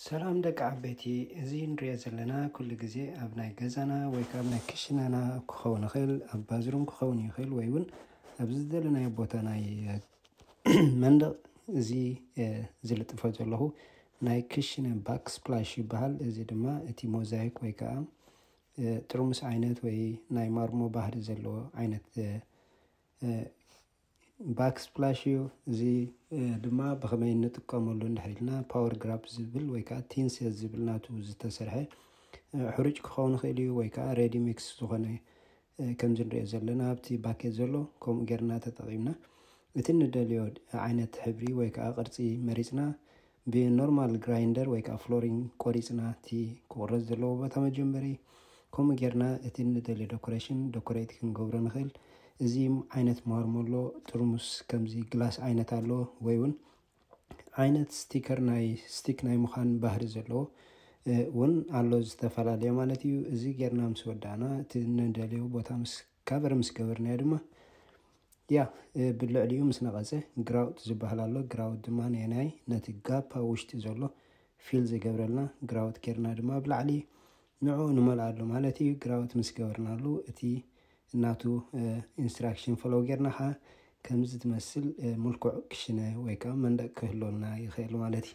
ሰላም ደቂ ዓበይቲ እዚ ንሪኦ ዘለና ኩሉ ግዜ ኣብ ናይ ገዛና ወይ ከዓ ናይ ክሽነና ክኸውን ይኽእል ኣብ ባዝሩም ክኸውን ይኽእል ወይ እውን ኣብ ዝደለናዮ ቦታ ናይ መንደቕ እዚ ዝልጥፎ ዘለኹ ናይ ክሽነ ባክ ስፕላሽ ይበሃል እዚ ድማ እቲ ሞዛይክ ወይ ከዓ ጥርሙስ ዓይነት ወይ ናይ ማርሞ ባህሪ ዘለዎ ዓይነት ባክ ስፕላሽ እዩ እዚ ድማ ብከመይ ንጥቀመሉ እንድሕር ኢልና ፓወር ግራፕ ዝብል ወይ ከዓ ቲንሴ ዝብል ናቱ ዝተሰርሐ ሕሩጭ ክኸውን ይኽእል እዩ ወይ ከዓ ሬዲ ሚክስ ዝኾነ ከምዚ ንሪኦ ዘለና ኣብቲ ባኬት ዘሎ ከምኡ ጌርና ተጠቒምና እቲ ንደልዮ ዓይነት ሕብሪ ወይ ከዓ ቅርፂ መሪፅና ብኖርማል ግራይንደር ወይ ከኣ ፍሎሪንግ ቆሪጽና እቲ ክቑረጽ ዘለዎ ቦታ መጀመሪ ከምኡ ጌርና እቲ ንደልዮ ደኮሬሽን ደኮሬት ክንገብሮ ንኽእል። እዚ ዓይነት ማርሞሎ ጥርሙስ ከምዚ ግላስ ዓይነት ኣሎ ወይ ውን ዓይነት ስቲከር ናይ ስቲክ ናይ ምዃን ባህሪ ዘለዎ ውን ኣሎ ዝተፈላለየ ማለት እዩ። እዚ ጌርና ምስ ወዳእና እቲ ንደልዮ ቦታ ምስ ካቨር ምስ ገበርናዮ ድማ ያ ብልዕሊኡ ምስ ነቐፀ ግራውት ዝበሃል ኣሎ። ግራውት ድማ ናይ ነቲ ጋፕ ኣብ ውሽጢ ዘሎ ፊል ዝገብረልና ግራውት ጌርና ድማ ብላዕሊ ንዕኡ ንመልኣሉ ማለት እዩ። ግራውት ምስ ገበርናሉ እቲ እናቱ ኢንስትራክሽን ፈለው ጌርና ከዓ ከምዚ ትመስል ምልኩዕ ክሽነ ወይ ከዓ መንደቅ ክህልወና ይኽእል ማለት እዩ።